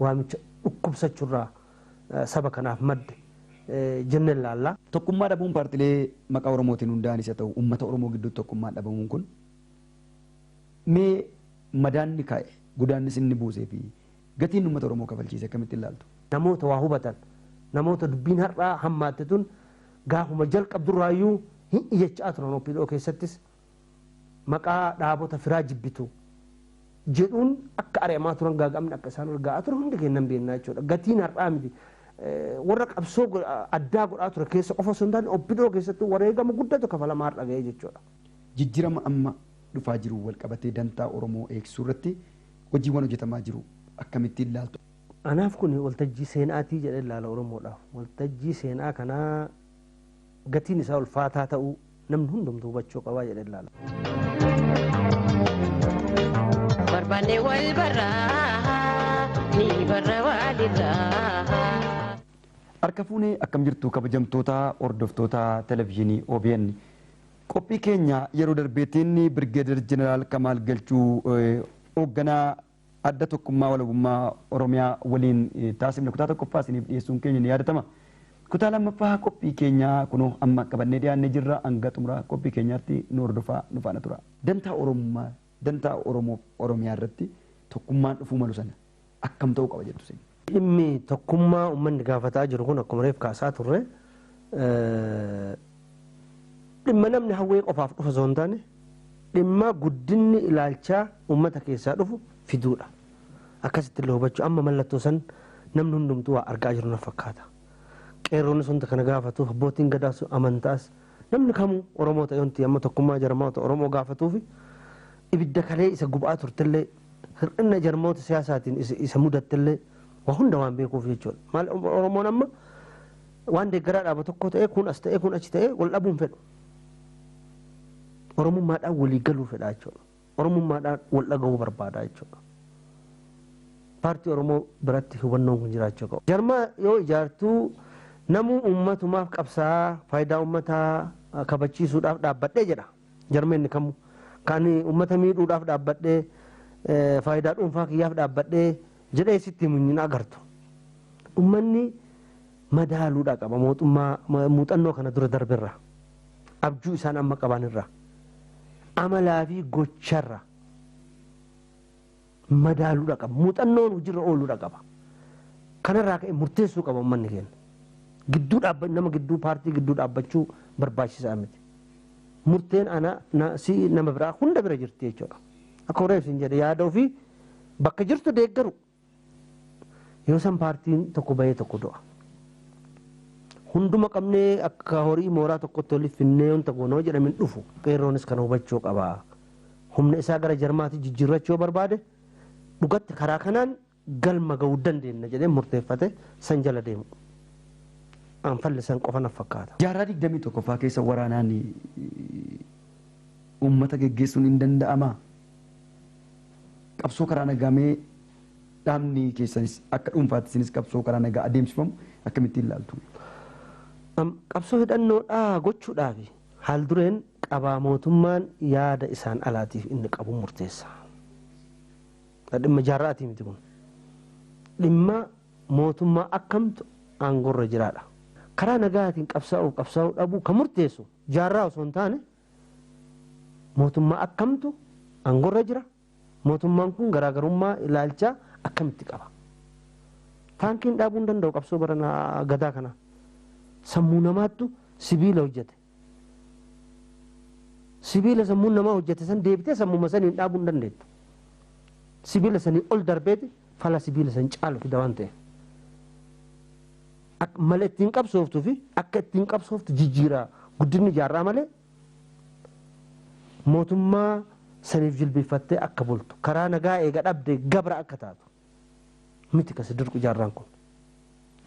waamicha dhukkubsachu irraa saba kanaaf madde jenne ilaalla. Tokkummaa dhabuun paartilee maqaa Oromootiin hundaa'anis haa ta'u ummata Oromoo gidduutti tokkummaan dhabamuun kun mee madaan inni kaa'e, godaannis inni buusee fi gatii inni ummata Oromoo kafalchiise akkamitti ilaaltu? Namoota waa hubatan, namoota dubbiin har'aa hammaatte tun gaafuma jalqabdu irraa iyyuu hin iyyachaa turan OPDO keessattis maqaa dhaabota firaa jibbitu jedhuun akka ari'amaa turan gaaga'amni akka isaan irra ga'aa ture hundi keenya nan beeknaa jechuudha. Gatiin har'aa miti. Warra qabsoo addaa godhaa ture keessa qofa osoo hin taane obbidoo keessatti wareegama guddatu kafalamaa har'a ga'ee jechuudha. Jijjirama amma dhufaa jiruun wal qabatee dantaa Oromoo eegsisuu irratti hojiiwwan hojjetamaa jiru akkamitti ilaaltu? Anaaf kun waltajjii seenaatii jedhee ilaala Oromoodhaaf. Waltajjii seenaa kanaa gatiin isaa ulfaataa ta'uu namni hundumtuu hubachuu qaba jedhee ilaala. barbaanne wal barraa ni barra waalirraa. Harka fuunee akkam jirtu kabajamtoota hordoftoota televizyiinii OBN. Qophii keenya yeroo darbeetiin Birgeedar Jeneraal Kamaal Galchuu eh, hoogganaa Adda Tokkummaa Walabummaa Oromiyaa waliin taasifne kutaa 1ffaa isiniif dhiyeessuun keenya ni yaadatama. Kutaa 2ffaa qophii keenyaa kunoo amma qabannee dhiyaannee jirra. Hanga xumura qophii keenyaatti nu hordofaa, nu faana turaa. Dantaa Oromummaa, Dantaa Oromoof Oromiyaa irratti tokkummaan dhufuu malu sana akkam ta'uu qaba jettu isin? Dhimmi tokkummaa ummanni gaafataa jiru kun akkuma reef kaasaa turre dhimma namni hawwee qofaaf dhufu osoo hin taane dhimma guddinni ilaalchaa ummata keessaa dhufu fiduudha. Akkasitti illee hubachuu amma mallattoo san namni hundumtuu waa argaa jiru na fakkaata. Qeerroonnis wanta kana gaafatu abbootiin gadaas amantaas Namni kamuu Oromoo ta'e wanti amma tokkummaa jarmoota Oromoo gaafatuufi ibidda kalee isa gubaa turtellee hir'inna jarmoota siyaasaatiin isa mudattellee waa hunda waan beekuuf jechuudha. Maal Oromoon amma waan deeggaraa dhaaba tokkoo ta'ee kun as ta'ee kun achi ta'ee wal dhabuu hin fedhu. Oromummaadhaan walii galuu fedha jechuudha. Oromummaadhaan wal dhagahuu barbaada jechuudha. Paartii Oromoo biratti hubannoon kun jiraachuu qaba. Jarmaa yoo ijaartu namuu uummatumaaf qabsaa'a, faayidaa uummataa kabachiisuudhaaf dhaabbadhe jedha. Jarmeenni kamuu. Ka ani uummata miidhuudhaaf dhaabbadhe, faayidaa dhuunfaa kiyyaaf dhaabbadhe jedhee sitti himu hin agartu. Uummanni madaaluudha qaba mootummaa muuxannoo kana dura darberraa. abjuu isaan amma qaban irraa amalaa fi gocharra madaaluudha qaba muuxannoon hojiirra ooluudha qaba kanarraa ka'e murteessuu qaba ummanni keenya gidduu dhaabba nama gidduu paartii gidduu dhaabbachuu barbaachisaa miti murteen ana na, si nama biraa hunda bira jirti jechuudha akka horeef hin jedhe yaada ofii bakka jirtu deeggaru Yoo san paartiin tokko bahee tokko du'a. Hunduma qabnee akka horii mooraa tokkotti waliif finnee wanta goona yoo jedhame hin dhufu. Qeerroonis kana hubachuu qaba. Humna isaa gara jarmaatti jijjiirrachuu yoo barbaade dhugatti karaa kanaan galma ga'uu dandeenna jedhee murteeffate san jala deemu. An falli san qofa naf fakkaata. Jaarraa 21ffaa keessa waraanaan uummata geggeessuun hin danda'amaa? Qabsoo karaa nagaa mee dhaabni keessanis akka dhuunfaatti isinis qabsoo karaa nagaa adeemsifamu akkamittiin ilaaltu? Am, Qabsoo hidhannoo dhaa gochuudhaafi haaldureen qabaa mootummaan yaada isaan alaatiif inni qabu murteessa. Dhimma jaarra'atii miti kun. Dhimma mootummaa akkamtu aangorra jiraadha. Karaa nagaatiin qabsaa'uuf qabsaa'uu dhabuu kan murteessu jaarraa osoo hin taane Mootummaa akkamtu aangorra jira? Mootummaan kun garaagarummaa ilaalchaa akkamitti qaba? Taankiin dhaabuu hin danda'u qabsoo barana gadaa kana. Sammuu namaattu sibiila hojjete. Sibiila sammuun namaa hojjete san deebitee sammuma saniin dhaabuu hin dandeettu. Sibiila sanii ol darbeeti fala sibiila san caalu fida waan ta'eef. Akka mala ittiin qabsooftu fi akka ittiin qabsooftu jijjiira guddinni jaarraa malee mootummaa saniif jilbiiffattee akka bultu karaa nagaa eega dhabde gabra akka taatu miti kasi dirqu jaarraan kun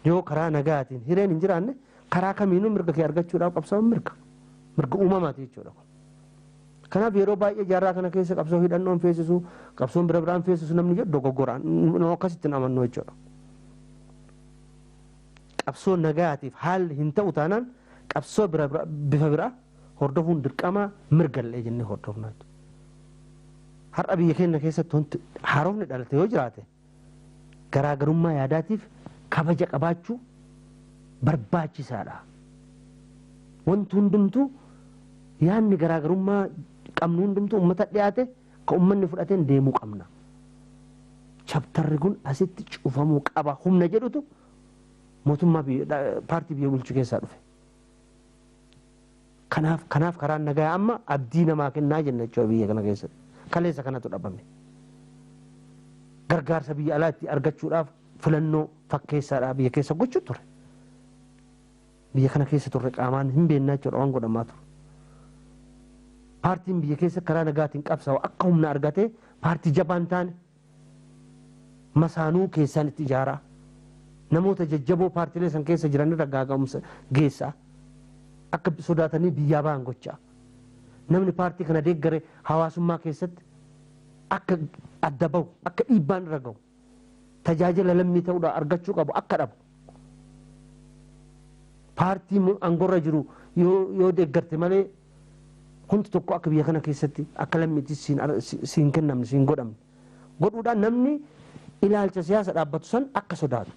yoo karaa nagaatiin hireen hin jiraanne karaa kamiinuu mirga kee argachuudhaaf qabsaa'uun mirga mirga uumamaati jechuudha kun. Kanaaf yeroo baay'ee jaarraa kana keessa qabsoo hidhannoon feesisu qabsoon bira biraan feesisu namni jedhu dogoggoraan nu akkasitti hin amannu jechuudha. Qabsoo nagaatiif haalli hin ta'u taanaan qabsoo bifa biraa hordofuun dirqama mirgallee jennee hordofna jechuudha. Har'a biyya keenya keessatti wanti haarofni dhalate yoo jiraate garaagarummaa yaadaatiif kabaja qabaachuu barbaachisaadha. Wanti hundumtuu yaadni garaagarummaa qabnu hundumtuu uummata dhiyaate Ka ummanni fudhateen deemuu qabna. Chaptarri kun asitti cufamuu qaba humna jedhutu mootummaa paartii biyya bulchu keessaa dhufe. Kanaaf kanaaf karaan nagayaa amma abdii namaa kennaa jenna jechuudha biyya kana keessatti. Kaleessa kanatu dhabame. Gargaarsa biyya alaa itti argachuudhaaf filannoo fakkeessaadhaa biyya keessa gochuu ture. Biyya kana keessa turre qaamaan hin beekna jechuudha waan godhamaa ture. Paartiin biyya keessa karaa nagaatiin qabsaa'u akka humna argatee paartii jabaa hin taane masaanuu keessaan itti ijaaraa. Namoota jajjaboo paartiilee san keessa jiran irra gaaga'umsa geessaa. Akka sodaatanii biyyaa ba'an gochaa. Namni paartii kana deeggare hawaasummaa keessatti akka adda bahu akka dhiibbaan irra gahu. tajaajila lammii ta'uudhaan argachuu qabu akka dhabu paartii aangorra jiru yoo deeggarte malee wanti tokko akka biyya kana keessatti akka lammiitti siin kennamne siin godhamne godhuudhaan namni ilaalcha siyaasa dhaabbatu san akka sodaatu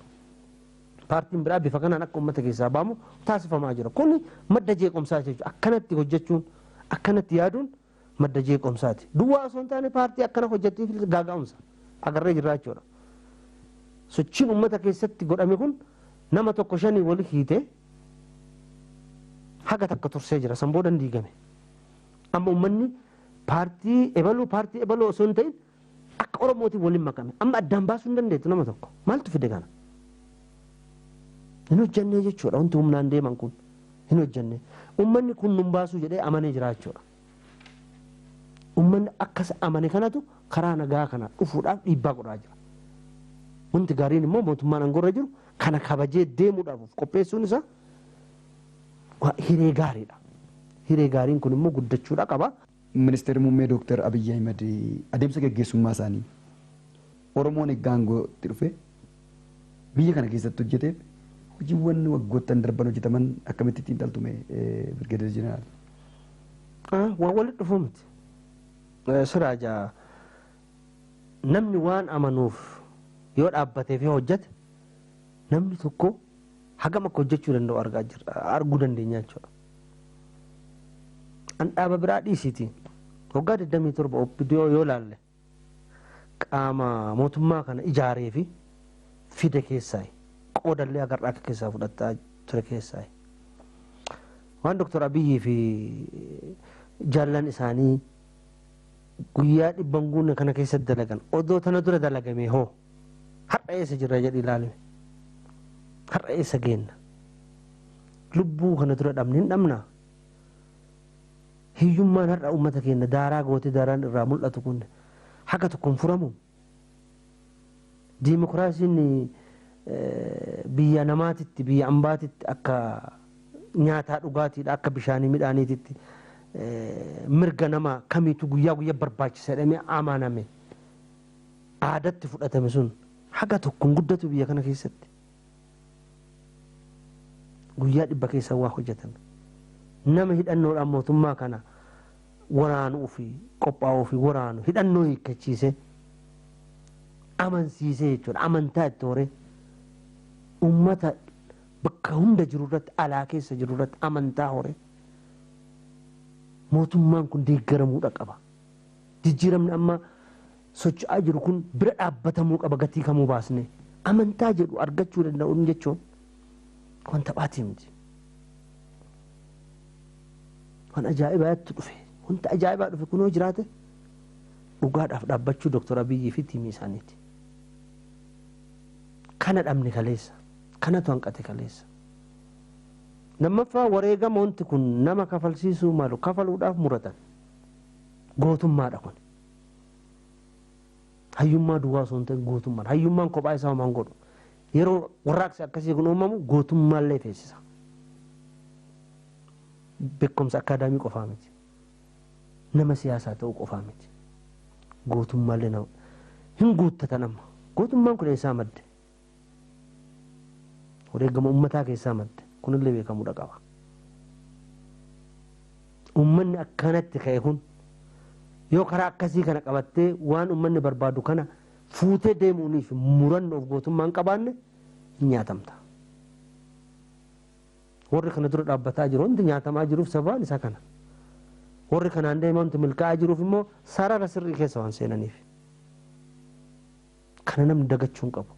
paartiin biraa bifa kanaan akka uummata keessaa baamu taasifamaa jira kun madda jeequmsaa jechuudha akkanatti hojjechuun akkanatti yaaduun madda jeequmsaati. Duwwaa osoo hin taane paartii akkana hojjettiifis gaaga'umsa agarree jirra jechuudha. Sochiin uummata keessatti godhame kun nama tokko shanii wali hiite haga takka tursee jira. San booda hin diigame. Amma uummanni paartii ebaluu paartii ebaluu osoo hin ta'in Akka Oromootiin waliin makame. Amma addaan baasuu hin dandeettu nama tokko. Maaltu fide kana? Hin hojjannee jechuudha wanti humnaan deeman kun. Hin hojjannee. Uummanni kun nun baasuu jedhee amanee jira jechuudha. Uummanni akkas amane kanatu karaa nagaa kana dhufuudhaaf dhiibbaa godhaa jira. Wanti gaariin immoo mootummaan aangorra jiru kana kabajee deemuudhaaf of qopheessuun isaa hiree gaariidha. Hiree gaariin kun immoo guddachuudha qaba. Ministeerri Muummee Dooktar Abiyyi Ahimad adeemsa gaggeessummaa isaanii Oromoon egga aangootti dhufee biyya kana keessatti hojjeteef hojiiwwan waggoottan darban hojjetaman akkamitti xiinxaltu mee Birgeeder Jeneraal? Waan walitti dhufuu miti. Siraaj namni waan amanuuf yoo dhaabbatee fi hojjete namni tokko hagam akka hojjechuu danda'u arguu dandeenya jechuudha. An dhaaba biraa dhiisiiti waggaa 27 OPDO yoo laalle qaama mootummaa kana ijaaree fi fide keessaayi. Qoodallee agarraa akka keessaa fudhataa ture keessaayi. Waan Dr. Abiyyii fi jaallan isaanii guyyaa dhibban guunne kana keessatti dalagan odoo tana dura dalagamee hoo? Har'a eessa jirra jedhi ilaalime. Har'a eessa geenna? Lubbuu kana dura dhabne hin dhabnaa? Hiyyummaan har'a uummata keenya daaraa gootee daaraan irraa mul'atu kun haga tokko hin furamu. Diimokiraasiin biyya namaatitti, biyya ambaatitti akka nyaataa dhugaatiidha, akka bishaanii midhaaniititti mirga nama kamiitu guyyaa guyyaa barbaachisa jedhamee amaname. aadatti fudhatame sun haga tokko hin guddatu biyya kana keessatti. Guyyaa dhibba keessa waa hojjetame. Nama hidhannoodhaan mootummaa kana waraanuu fi qophaa'uu fi waraanu hidhannoo hiikkachiisee amansiisee jechuudha. Amantaa itti horee uummata bakka hunda jiru irratti alaa keessa jiru irratti amantaa horee mootummaan kun deeggaramuudha qaba. Jijjiiramni amma socho'aa jiru kun bira dhaabbatamuu qaba gatii kamuu baasnee. Amantaa jedhu argachuu danda'uun jechuun waan taphaatii miti. Waan ajaa'ibaatti dhufe. Wanta ajaa'ibaa dhufe kunoo jiraate dhugaadhaaf dhaabbachuu Dooktar Abiyyii fi tiimii isaaniiti. Kana dhabne kaleessa. Kanatu hanqate kaleessa. Lammaffaa wareegama wanti kun nama kafalsiisuu malu kafaluudhaaf muratan. Gootummaadha kun. Hayyummaa duwwaa osoo hin ta'in gootummaadha. Hayyummaan kophaa isaa homaa hin godhu. Yeroo warraaqsi akkasii kun uumamu gootummaallee feesisa. Beekumsa akkaadaamii qofaa miti. Nama siyaasaa ta'uu qofaa miti. Gootummaallee nama hin guuttatan amma. Gootummaan kun eessaa madde? Wareegama ummataa keessaa madde. Kunillee beekamuudha qaba. Ummanni akkanatti ka'e kun yoo karaa akkasii kana qabattee waan ummanni barbaadu kana fuutee deemuuniif murannoof gootummaa hin qabaanne hin nyaatamta. Warri kana dura dhaabbataa jiru hundi nyaatamaa jiruuf sababaan isaa kana. Warri kanaan deemaa hundi milkaa'aa jiruuf immoo sarara sirrii keessa waan seenaniif. Kana namni dagachuu hin qabu.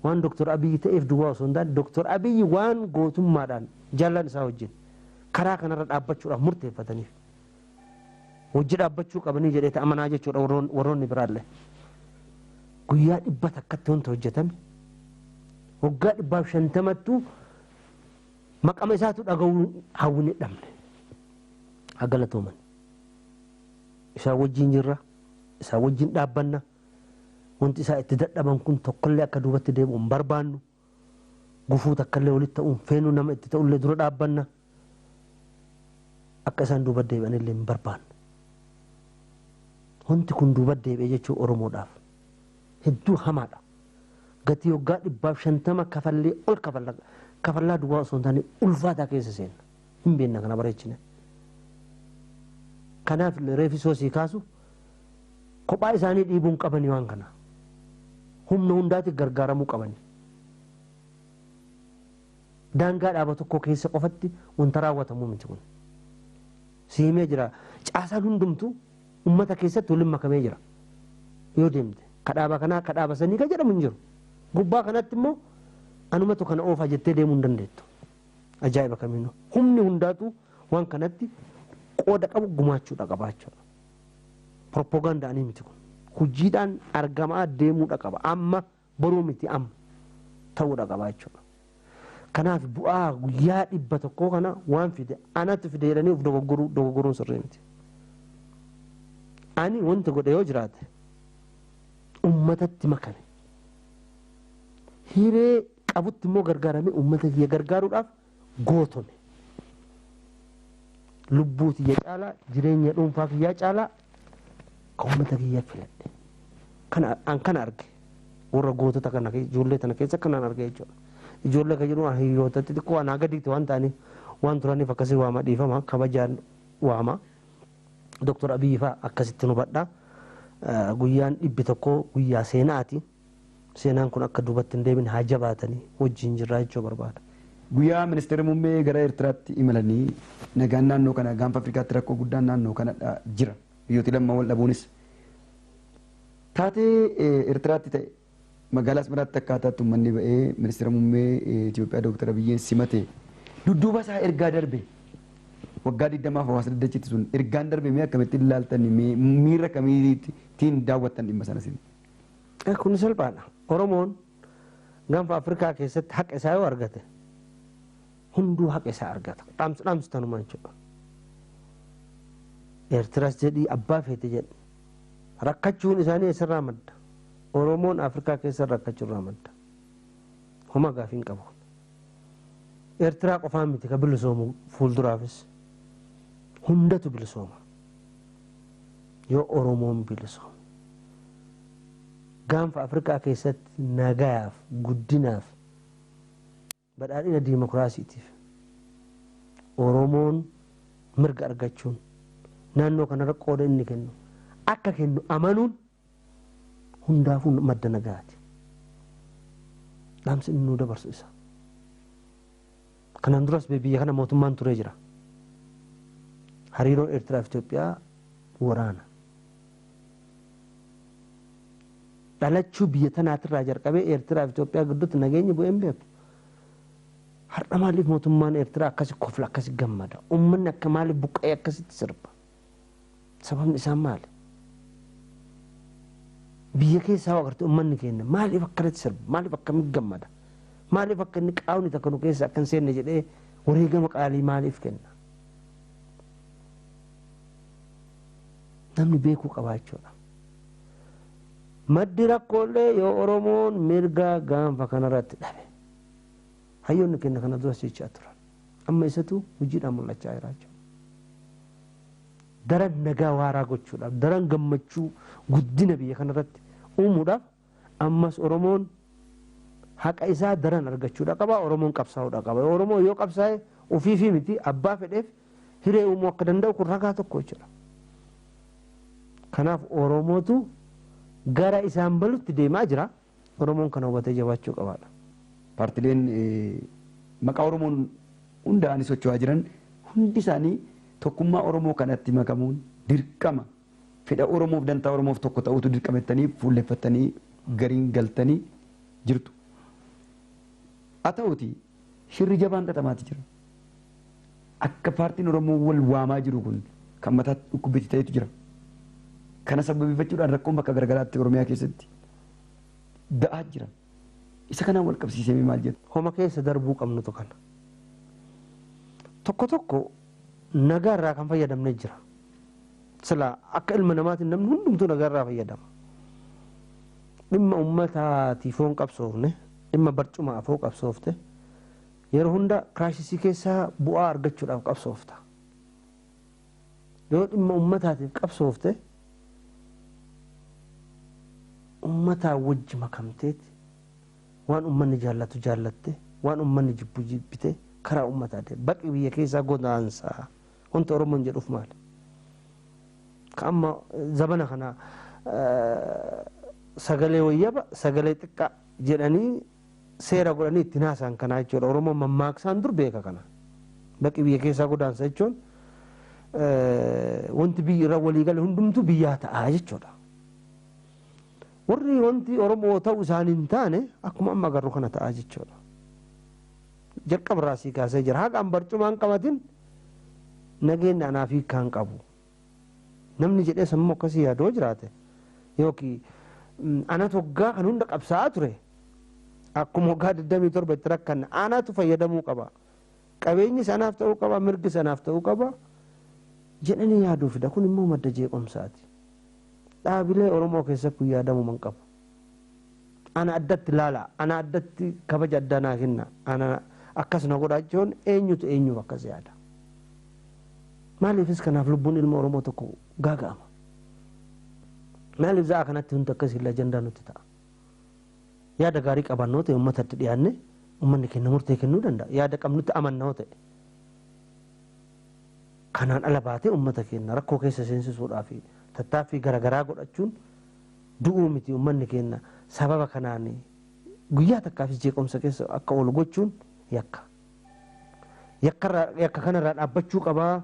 Waan Dr. Abiyyi ta'eef duwwaa osoo hin taane Dr. Abiyyi waan gootummaadhaan jaallaan isaa wajjin karaa kanarra dhaabbachuudhaaf murteeffataniif wajji dhaabbachuu qabanii jedhee ta amanaa jechuudha warroon- warroonni biraallee. Guyyaa dhibba takkatti wanta hojjetame waggaa dhibbaaf shantamattuu maqama isaatu dhaga'uu hawwine dhabne. Haa galatooman. Isaan wajjin jirra. isaan wajjin dhaabbanna. Wanti isaan itti dadhaban kun tokkollee akka duubatti deebi'u hin barbaannu. Gufuu takkallee walitti ta'uu hin feenu, nama itti ta'ullee dura dhaabbanna. Akka isaan duuba deebi'anillee hin barbaannu. Wanti kun duuba deebi'e jechuun Oromoodhaaf hedduu hamaadha. Gatii waggaa dhibbaaf shantama kafallee ol kafalla. Kafallaa duwwaa osoo hin taane ulfaataa keessa seenna. hin beenna kana bareechine kanaaf illee reefi soo sii kaasu kophaa isaanii dhiibuu hin qabanii waan kana humna hundaati gargaaramuu qabanii daangaa dhaaba tokkoo keessa qofatti wanta raawwatamu miti kun si himee jira caasaan hundumtu ummata keessatti waliin makamee jira yoo deemte ka dhaaba kanaa ka dhaaba sanii ka jedhamu hin jiru gubbaa kanatti immoo anumatu kana oofaa jettee deemuu hin dandeettu Ajaa'iba kamiinuu humni hundaatu waan kanatti qooda qabu gumaachuudha qaba jechuudha. Propoogaandaanii miti kun. Hojiidhaan argamaa deemuudha qaba. Amma boruu miti amma ta'uudha qaba jechuudha. Kanaaf bu'aa guyyaa dhibba tokkoo kana waan fide anatu fide jedhanii of dogoggoruu dogoggoruun sirrii miti. Ani wanta godhe yoo jiraate ummatatti makame. Hiree qabutti immoo gargaaramee uummata kiyya gargaaruudhaaf gootome. Lubbuu tiyya caalaa jireenya dhuunfaa kiyyaa caalaa kan uummata kiyya filadhe. Kana an kana arge warra gootota kana keessa- ijoollee tana keessa kanan arge jechuudha. Ijoollee kan jedhu hiriyootatti xiqqoo anaa gadiitti waan ta'aniif waan turaniif akkasii waama dhiifama kabajaan waama. Doktor Abiyyi fa'aa akkasitti hubadha. Eh, Guyyaan dhibbi tokko guyyaa seenaati. Seenaan kun akka duubatti hin deebine haa jabaatanii wajjin jirraa jechuu barbaada. Guyyaa Ministeerri Muummee gara Ertiraatti imalanii nagaan naannoo kana Gaanfa Afrikaatti rakkoo guddaan naannoo kanadha jira. Biyyooti lamman wal dhabuunis taatee Ertiraatti ta'e magaalaa Asmaraatti akkaataatti ummanni ba'ee Ministeera Muummee Itoophiyaa Dooktar Abiyyeen simate dudduuba isaa ergaa darbe waggaa 20f hawaasa daddachitti sun ergaan darbe mee akkamittiin ilaaltan miira akkamiitiin daawwattan dhimma sana isin? Kun salphaadha. Oromoon gaanfa Afrikaa keessatti haqa isaa yoo argate hunduu haqa isaa argata. Dhaamsi dhaamsi tanuma jechuudha. Eertiras jedhii abbaa feete jedhi. Rakkachuun isaanii eessarraa madda? Oromoon Afrikaa keessa rakkachuurraa madda. Homa gaafii hin qabu. Eertiraa qofaa miti ka bilisoomu fuulduraafis hundatu bilisooma. Yoo Oromoon bilisoome, Gaanfa Afrikaa keessatti nagayaaf, guddinaaf, badhaadhina diimokiraasiitiif Oromoon mirga argachuun naannoo kanarra qooda inni kennu akka kennu amanuun hundaafuu madda nagaati. Dhaamsi inni nuu dabarsu isa. Kanaan duras biyya kana mootummaan turee jira. Hariiroon Eertiraa fi Itoophiyaa waraana. Dhalachuu biyya tanaatirraa jalqabee Eertiraa fi Itoophiyaa gidduutti nageenyi bu'ee hin beeku. Har'a maaliif mootummaan Eertiraa akkasi kofla akkasi gammada? Uummanni akka maaliif buqqa'ee akkasitti sirba? Sababni isaan maali? Biyya keessaa hoo agartee ummanni keenya maaliif akkanatti sirba? Maaliif akkamitti gammada? Maaliif akka inni qaawni takka nu keessa akka hin seenne jedhee wareegama qaalii maaliif kenna? Namni beekuu qabaa jechuudha. Maddi rakkoollee yoo Oromoon mirga gaanfa kanarratti dhabe. Hayyoonni keenya kana duras jechaa turan. Amma isatu hojiidhaan mul'achaa jira jechuudha. Daran nagaa waaraa gochuudhaaf, daran gammachuu guddina biyya kanarratti uumuudhaaf ammas Oromoon haqa isaa daran argachuudha qaba, Oromoon qabsaa'uudha qaba. Oromoo yoo qabsaa'e ofiifii miti abbaa fedheef hiree uumuu akka danda'u kun ragaa tokko jechuudha. Kanaaf Oromootu gara isaan balutti deemaa jira. Oromoon kana hubatee jabaachuu qaba dha. Paartileen maqaa Oromoon hundaa'anii socho'aa jiran hundi isaanii tokkummaa Oromoo kanatti makamuun dirqama, fedha Oromoof dantaa Oromoof tokko ta'uutu dirqama jettanii fuulleffattanii gariin galtanii jirtu. Haa ta'uutii. Shirri jabaan xaxamaati jira. Akka paartiin Oromoo wal waamaa jiru kun kan mataatti dhukkubbitti ta'etu jira. Kana sababeeffachuudhaan rakkoon bakka garagaraatti Oromiyaa keessatti ga'aa jira. Isa kanaan wal qabsiisemee maal jedhu? Homa keessa darbuu qabnutu kana. Tokko tokko nagaa irraa kan fayyadamne jira. Silaa akka ilma namaatiin namni hundumtuu nagaa irraa fayyadama. Dhimma uummataatiif yoo hin qabsoofne, dhimma barcumaaf yoo qabsoofte, yeroo hunda kiraayisisii keessaa bu'aa argachuudhaaf qabsoofta. Yoo dhimma uummataatiif qabsoofte, uummataa wajji makamteeti, waan uummanni jaallatu jaallatte, waan uummanni jibbu jibbite karaa uummataa deemta. Baqi biyya keessaa godaansa. Wanti Oromoon jedhuuf maali? Ka amma zabana kana sagalee wayyaba, sagalee xiqqaa jedhanii seera godhanii ittiin haasa'an kanaa jechuudha. Oromoon mammaaksaan dur beeka kana. Baqi biyya keessaa godaansa jechuun wanti biyyi irra walii gale hundumtuu biyyaa ta'a jechuudha. Warri wanti Oromoo ta'u isaanii hin taane akkuma amma agarru kana ta'a jechuudha. Jalqaba irraa sii kaasee jira. Haga an barcumaa hin qabatin nageenni anaaf hiikkaa hin qabu. Namni jedhee sammuu akkasii yaadu yoo jiraate yookiin anatu waggaa kan hunda qabsaa'aa ture akkuma waggaa 27 itti rakkanne anatu fayyadamuu qaba. Qabeenyis anaaf ta'uu qaba mirgis anaaf ta'uu qaba jedhanii yaaduu fida. Kun immoo madda jeequmsaati. Dhaabilee Oromoo keessatti kun yaadamuu hin qabu. ana addatti laalaa ana addatti kabaja addaa naa kenna ana akkas na godhaa jechuun eenyutu eenyuuf akkas yaada maaliifis kanaaf lubbuun ilma oromoo tokko gaaga'ama maaliif za'a kanatti hundi akkas hin ajandaa nutti ta'a yaada gaarii qabannoo ta'e uummatatti dhiyaanne uummanni kenna murtee kennuu danda'a yaada qabnutti amannoo ta'e kanaan ala baatee uummata keenya rakkoo keessa seensisuudhaa fi tattaaffii garaagaraa godhachuun du'uu miti ummanni keenna sababa kanaan guyyaa takkaafis jeequmsa keessa akka oolu gochuun yakka. Yakka irraa- yakka kana irraa dhaabbachuu qabaa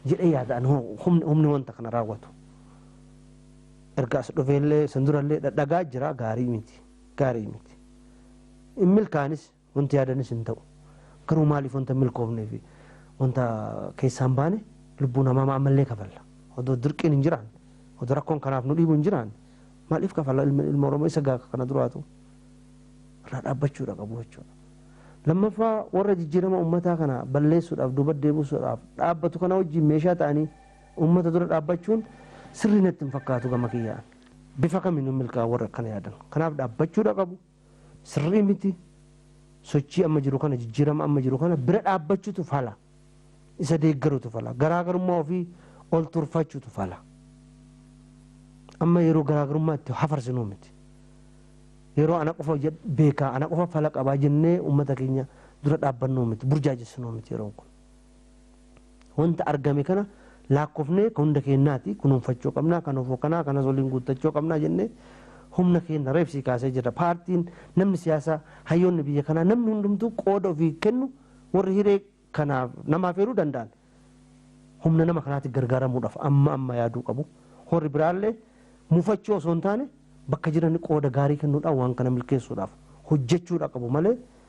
jedhee yaada ani hoo humni humni wanta kana raawwatu. Erga as dhufeellee san durallee dhadhagaa jira gaarii miti gaarii miti. Hin milkaanis. Wanti yaadanis hin ta'u. Garuu maaliif wanta hin milkoofnee fi wanta keessaa hin baane lubbuun hamaama ammallee kafalla? Odoo dirqiin hin jiraanne, odoo rakkoon kanaaf nu dhiibu hin jiraanne maaliif kafalla? Ilmi ilma Oromoo isa gaha ka kana duraatu irraa dhaabbachuudha qabu jechuudha. Lammaffaa warra jijjiirama ummataa kana balleessuudhaaf, duuba deebusuudhaaf dhaabbatu kana wajjiin meeshaa ta'anii ummata dura dhaabbachuun sirrii natti hin fakkaatu gama kiyyaan. Bifa kamiinuu hin milkaa'an warri akkana yaadan. Kanaaf dhaabbachuudha qabu. Sirrii miti. Sochii amma jiru kana, jijjiirama amma jiru kana bira dhaabbachuutu fala. Isa deeggaruutu fala. Garaagarummaa ofii ol turfachuutu fala. Amma yeroo garaagarummaa itti hafarsinuu miti. Yeroo ana qofa beekaa, ana qofa fala qabaa jennee uummata keenya dura dhaabbannuu miti, burjaajessinuu miti yeroon kun. Wanta argame kana laakkofnee kan hunda keennaati, kunuunfachuu qabna, kan ofoo kanaa, kanas waliin guuttachuu qabna jennee humna keenna reebsii kaasee jirra. Paartiin, namni siyaasaa, hayyoonni biyya kanaa namni hundumtuu qooda ofii kennu warri hiree kana nama afeeruu danda'an humna nama kanaatti gargaaramuudhaaf amma amma yaaduu qabu. Horri biraallee mufachuu osoo hin taane bakka jirani qooda gaarii kennuudhaan waan kana milkeessuudhaaf hojjechuudha qabu malee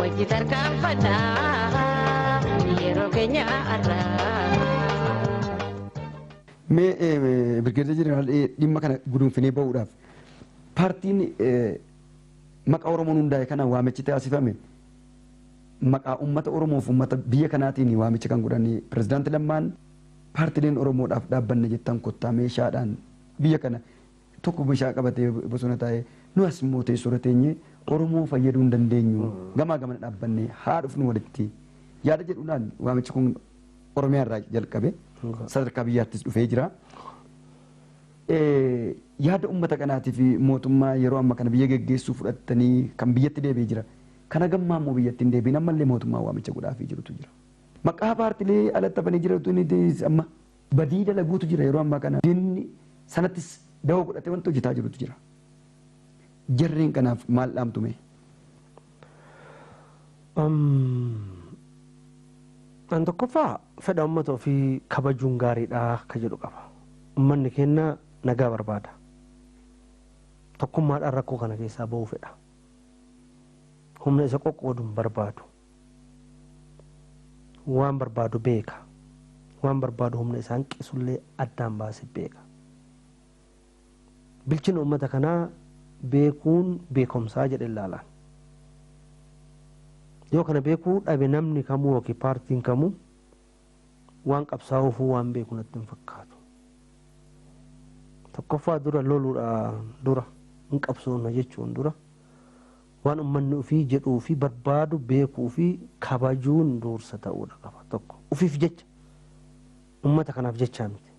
Wajji tarkaanfannaa yeroo keenya har'aa. Mee eh, Birgeedar Jeneraal eh, dhimma kana gudunfinee ba'uudhaaf paartiin eh, maqaa Oromoon hundaa'e kana waamichi taasifame maqaa uummata Oromoof uummata biyya kanaatiin waamicha kan godhanii pirezidaanti Lammaan paartileen Oromoodhaaf dhaabbanne jettan kottaa meeshaadhaan biyya kana tokko meshaa qabatee bosona taa'ee nu as immoo teessoorra teenyee Oromoo fayyaduu hin dandeenyu gamaa gamana dhaabbannee haa dhufnu walitti yaada jedhuudhaan waamichi kun Oromiyaa irraa jalqabe sadarkaa biyyaattis dhufee jira. Yaada uummata kanaatii fi mootummaa yeroo amma kana biyya geggeessuu fudhattanii kan biyyatti deebi'ee jira. Kana gammaa immoo biyyatti hin deebiin ammallee mootummaa waamicha godhaafii jirutu jira. Maqaa paartilee alatti hafanii jiratu amma badii dalaguutu jira yeroo ammaa kana diinni sanattis dawoo godhatee wanta hojjetaa jirutu jira. Jarreen kanaaf maal dhaamtu mee? An tokkoffaa fedha uummata ofii kabajuun gaariidha ka jedhu qaba. Uummanni keenya nagaa barbaada. Tokkummaadhaan rakkoo kana keessaa ba'uu fedha. Humna isa qoqqoodu hin barbaadu. waan barbaadu beeka waan barbaadu humna isa hanqisullee addaan baase beeka bilchina ummata kanaa beekuun beekomsaa jedhe ilaalaan yoo kana beekuu dhabe namni kamuu yookiin paartiin kamuu waan qabsaa'uufuu waan beeku natti hin fakkaatu. Tokkoffaa dura loluudha dura hin qabsoofna jechuun dura Waan ummanni ufii jedhuu fi barbaadu beekuu fi kabajuun duursa ta'uudha qaba. Tokko, ufiif jecha, ummata kanaaf jechaa miti.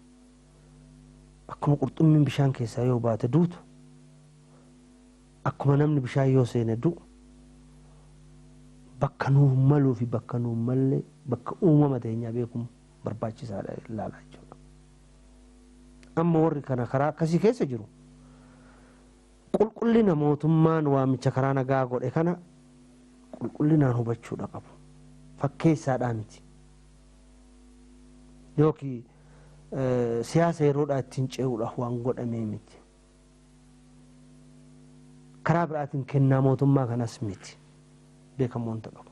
Akkuma qurxummiin bishaan keessaa yoo baate duutu, akkuma namni bishaan yoo seene du'u, bakka nuuf maluu fi bakka nuuf malle, bakka uumama teenyaa beekuun barbaachisaadha ilaala jechuudha. Amma warri kana karaa akkasii keessa jiru, Qulqullina mootummaan waamicha karaa nagaa godhe kana qulqullinaan hubachuudha qabu. Fakkeessaadhaa miti. Yookiin siyaasa yeroodhaa ittiin ce'uudhaaf waan godhamee miti. Karaa biraatiin kennaa mootummaa kanas miti. Beekamuu wanta qabu.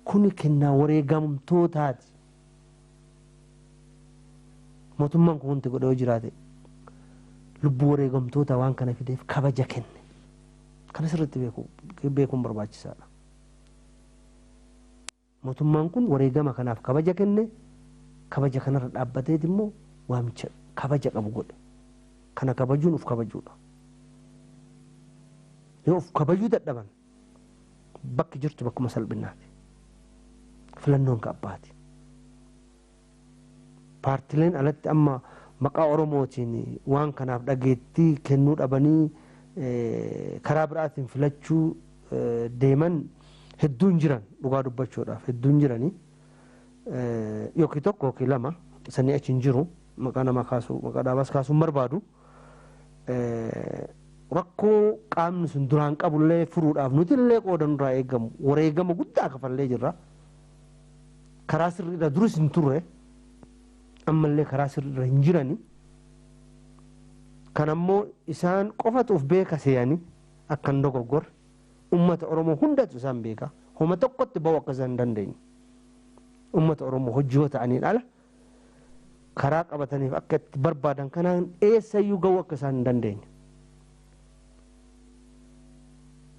Kuni kennaa wareegamtootaati. Mootummaan kun wanti godhe yoo jiraate lubbuu wareegamtootaa waan kana fideef kabaja kenne. Kana sirriitti beekuu beekuun barbaachisaadha. Mootummaan kun wareegama kanaaf kabaja kenne, kabaja kanarra dhaabbateet immoo waamicha kabaja qabu godhe. Kana kabajuun of kabajuudha. Yoo of kabajuu dadhaban bakki jirtu bakkuma salphinnaati. Filannoon ka abbaati. Paartileen alatti amma maqaa Oromootiin waan kanaaf dhageettii kennuu dhabanii karaa biraatiin filachuu deeman hedduun jiran dhugaa dubbachuudhaaf hedduun jiranii yookiin tokko yookiin lama sanii achi hin jiru maqaa namaa kaasuu maqaa dhaabaas kaasuu hin barbaadu. rakkoo qaamni sun duraan qabullee furuudhaaf nutillee qooda nurraa eegamu wareegama guddaa kafallee jirra. Karaa sirriidha duris hin turre ammallee karaa sirriidha hin jirani. Kan ammoo isaan qofatu of beeka seeyani akka hin dogoggorre uummata Oromoo hundatu isaan beeka. Homa tokkotti ba'uu akka isaan hin dandeenye. Uummata Oromoo hojii yoo ta'aniin ala karaa qabataniif akka itti barbaadan kanaan eessayyuu ga'uu akka isaan hin dandeenye.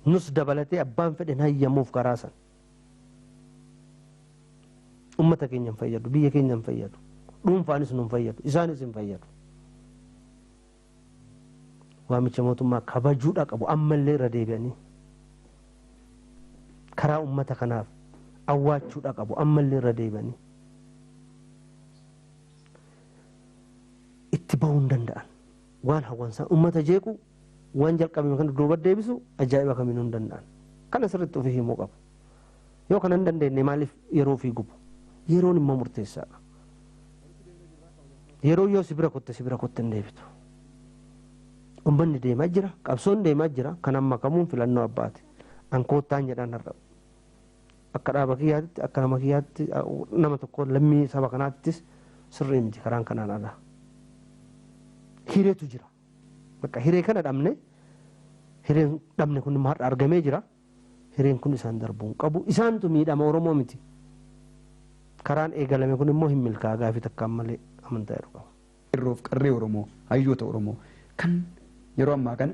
Nus dabalatee abbaan fedhen hayyamuuf karaa san. Ummata keenya hin fayyadu, biyya keenya hin fayyadu, dhuunfaanis nu hin fayyadu, isaanis hin fayyadu. waamicha mootummaa kabajuudha qabu ammallee irra deebi'anii karaa ummata kanaaf awwaachuudha qabu ammallee irra deebi'anii itti bahuu hin danda'an waan hawwansaa ummata jeequu waan jalqabame kana duuba deebisu ajaa'iba kamiinuu hin danda'an kana sirriitti ofii himuu qabu. Yoo kana hin dandeenye maaliif yeroo ofii gubu? Yeroon immoo murteessaadha. Yeroo yoo si bira kutte si bira kutte hin deebitu. Ummanni deemaa jira, qabsoon deemaa jira, kan amma kamuun filannoo abbaati. An koottaan jedhaan har'a. Akka dhaaba kiyyaatti, akka nama kiyyaatti, nama tokko lammii saba kanaattis sirrii miti karaan kanaan ala. Hireetu jira. Bakka hiree kana dhabne, hireen dhabne kun immoo har'a argamee jira. Hireen kun isaan darbuu hin qabu. Isaantu miidhama Oromoo miti. Karaan eegalame kun immoo hin milkaa'a gaafii takkaan malee amantaa jedhu qaba. Qeerroof Qarree Oromoo, Hayyoota Oromoo kan yeroo ammaa kana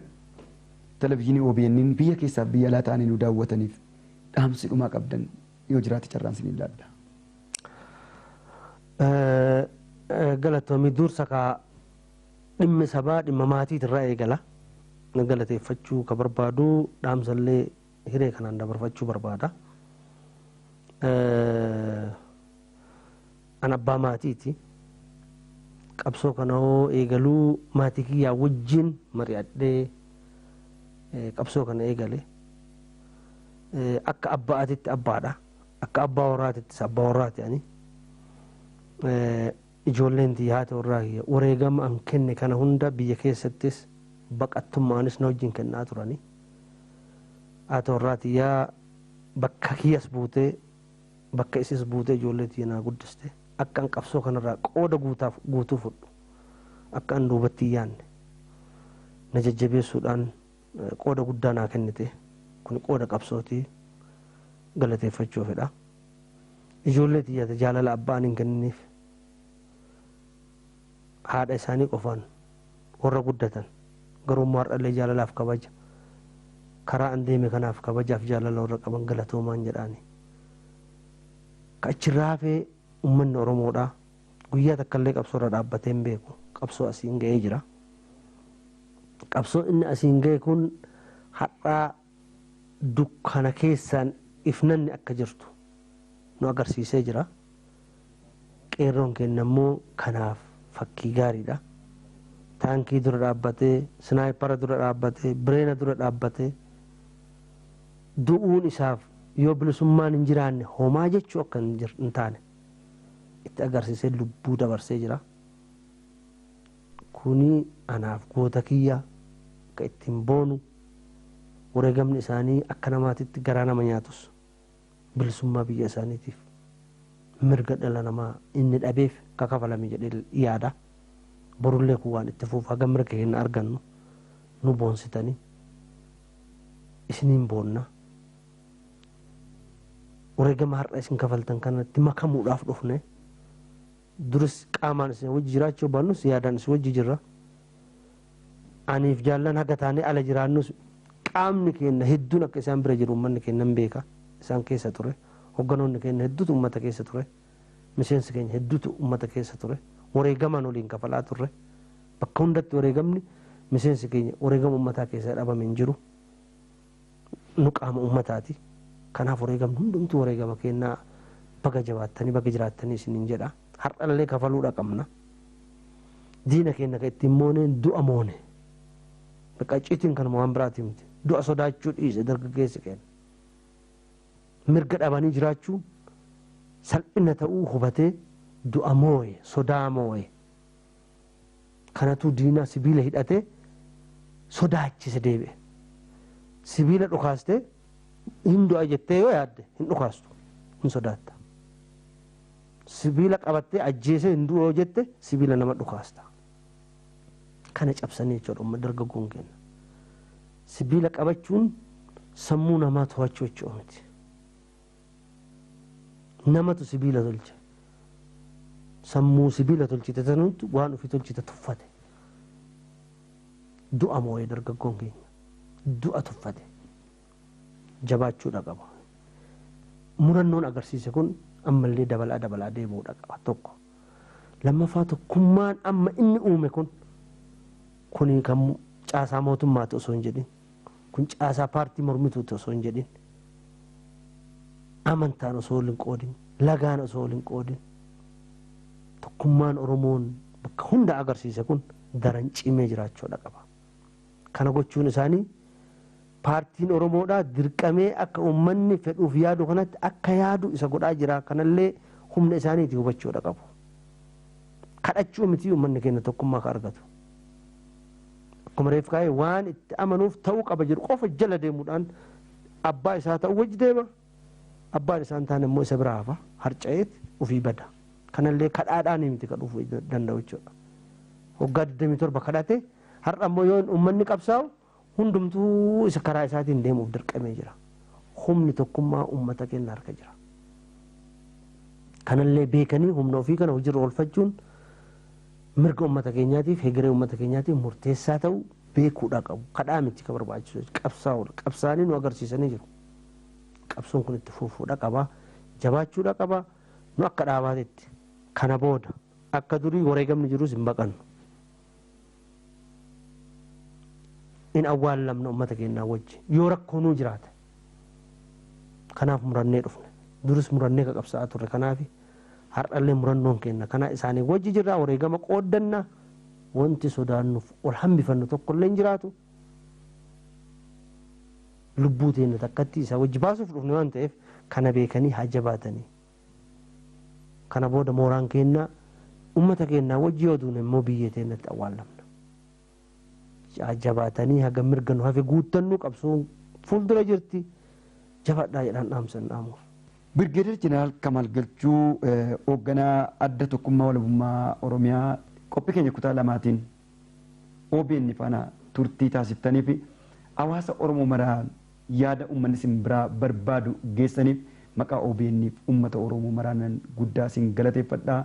Televizhinii OBNn biyya keessaaf biyya alaa ta'anii nu daawwataniif dhaamsi dhumaa qabdan yoo jiraate carraan siniin laadha. Galatoomi. Dursa kaa Dhimmi sabaa dhimma maatiit irraa eegala. Nan galateeffachuu ka barbaadu dhaamsa illee hiree kanaan dabarfachuu barbaada. An abbaa maatiiti. Qabsoo kana hoo eegaluu maatii kiyyaa wajjin mari'adhee qabsoo kana eegale. Akka abba'aatitti abbaadha. Akka abbaa warraatittis abbaa warraati ani. Ijoolleen tiyya haati warraa kiyya wareegama an kenne kana hunda biyya keessattis baqattummaanis na wajjin kennaa turani. Haati warraa tiyya bakka kiyyas buutee bakka isiis buutee ijoollee tiyya naa guddiste. Akka an qabsoo kanarraa qooda guutaaf guutuu fudhu, akka an duubatti hin yaanne na jajjabeessuudhaan qooda guddaa naa kennite. Kuni qooda qabsooti. Galateeffachuu fedha. Ijoollee tiyya ta jaalala abbaan hin kennineef, haadha isaanii qofaan warra guddatan, garuu immoo har'allee jaalalaaf kabaja, karaa an deeme kanaaf kabajaaf jaalala warra qaban galatoomaan jedhaani. Ka achi irraa hafe ummanni Oromoodhaa guyyaa takkallee qabsoo irra dhaabbatee hin beeku. Qabsoo asiin ga'ee jira. Qabsoon inni asiin ga'e kun har'aa dukkana keessaan ifnanni akka jirtu nu agarsiisee jira. Qeerroon keenya immoo kanaaf fakkii gaariidha. Taankii dura dhaabbatee, Sinaayipara dura dhaabbatee, Bireena dura dhaabbatee du'uun isaaf yoo bilisummaan hin jiraanne homaa jechuu akka hin taane itti agarsiisee lubbuu dabarsee jira. Kuni anaaf goota kiyya akka ittiin boonu, wareegamni isaanii akka namaatitti garaa nama nyaatus, bilisummaa biyya isaaniitiif, mirga dhala namaa inni dhabeef akka kafalame jedhee yaada. Borullee kun waan itti fufu haga mirga keenna argannu nu boonsitani, isiniin boonna. Wareegama har'a isin kafaltan kanatti makamuudhaaf dhufne. Duris qaamaan isin wajji jiraachuu yoo baannus yaadaan isin wajji jirra. Aniif Jaallan haga taanee ala jiraannus qaamni keenna hedduun akka isaan bira jiru ummanni keenna hin beeka. Isaan keessa ture. Hogganoonni keenna hedduutu ummata keessa ture. Miseensi keenya hedduutu ummata keessa ture. Wareegamaan waliin kafalaa turre. Bakka hundatti wareegamni miseensi keenya wareegama ummataa keessaa dhabame hin jiru. Nu qaama ummataati. Kanaaf wareegamni hundumtuu wareegama keenna. Baga jabaattanii, baga jiraattanii isiniin jedha. Har'allee kafaluudha qabna. Diina keenna ka ittiin mooneen du'a moone. Bakka icciitiin kanuma waan biraatii miti. Du'a sodaachuu dhiise dargaggeessi keenna. Mirga dhabanii jiraachuun salphina ta'uu hubatee du'a mooye, sodaa mooye. Kanatuu diina sibiila hidhate sodaachise deebi'e. Sibiila dhukaaste hin du'a jettee yoo yaadde hin dhukaastu hin sodaatta. Sibiila qabattee ajjeesee hin du'u yoo jette sibiila nama dhukaasta. Kana cabsanii jechuudha umma dargaggoon keenya. Sibiila qabachuun sammuu namaa to'achuu jechuu miti. Namatu sibiila tolche. Sammuu sibiila tolchite sanuutti waan ofii tolchite tuffate. Du'a moo'ee dargaggoon keenya. Du'a tuffate. Jabaachuudha qaba. Murannoon agarsiise kun ammallee dabalaa dabalaa deemuudha qaba tokko. Lammaffaa tokkummaan amma inni uume kun kuni kan caasaa mootummaati osoo hin jedhin Kun caasaa paartii mormituuti osoo hin jedhin, amantaan osoo wal hin qoodin, lagaan osoo wal hin qoodin tokkummaan Oromoon bakka hunda agarsiise kun daran cimee jiraachuudha qaba. Kana gochuun isaanii paartiin Oromoodhaa dirqamee akka uummanni fedhuuf yaadu kanatti akka yaadu isa godhaa jira. Kanallee humna isaaniiti hubachuudha qabu. Kadhachuu mitii uummanni keenya tokkummaa ka argatu. Akkuma reef kaa'e waan itti amanuuf ta'uu qaba jedhu qofa jala deemuudhaan abbaa isaa ta'uu wajji deema. Abbaan isaan taane immoo isa biraa hafa harca'eet ofii bada. Kanallee kadhaadhaanii miti ka dhufu danda'u jechuudha. Waggaa 27 kadhate har'a immoo yoo uummanni qabsaa'u hundumtuu isa karaa isaatiin deemuuf dirqamee jira. Humni tokkummaa uummata keenya harka jira. Kanallee beekanii humna ofii kana hojiirra oolfachuun Mirga ummata keenyaatiif, hegeree ummata keenyaatiif murteessaa ta'u beekuudha qabu. Kadhaa miti ka barbaachisu jechuudha. Qabsaa'uudha. Qabsaa'anii nu agarsiisanii jiru. Qabsoon kun itti fufuudha qaba. Jabaachuudha qaba. Nu akka dhaabaatitti kana booda akka durii wareegamni jirus hin baqannu. In awwaallamna ummata keenyaa wajji. Yoo rakkoonuu jiraate Kanaaf murannee dhufne. Duris murannee ka qabsa'aa turre kanaafi. Har'allee murannoon keenna kana. Isaanii wajji jirra, wareegama qooddanna. Wonti sodaannuuf ol hambifannu tokkollee hin jiraatu. Lubbuu teenna takkatti isaa wajji baasuuf dhufne waan ta'eef kana beekanii haa jabaatanii. Kana booda mooraan keenna ummata keennaa wajji yoo duune immoo biyyee teennatti awwaallamna. Jabaatanii haga mirga nu hafe guuttannu qabsoon fuuldura jirti. Jabaadhaa jedhaan dhaamsan dhaamuuf. Birgeeder Jeneraal Kamaal Galchuu Hoogganaa Adda Tokkummaa Walabummaa Oromiyaa qophii keenya kutaa lamaatiin obn faana turtii taasiftanii fi hawaasa Oromoo maraan yaada ummanni isin biraa barbaadu geessaniif maqaa obn fi ummata Oromoo maraanan guddaa isin galateeffadha.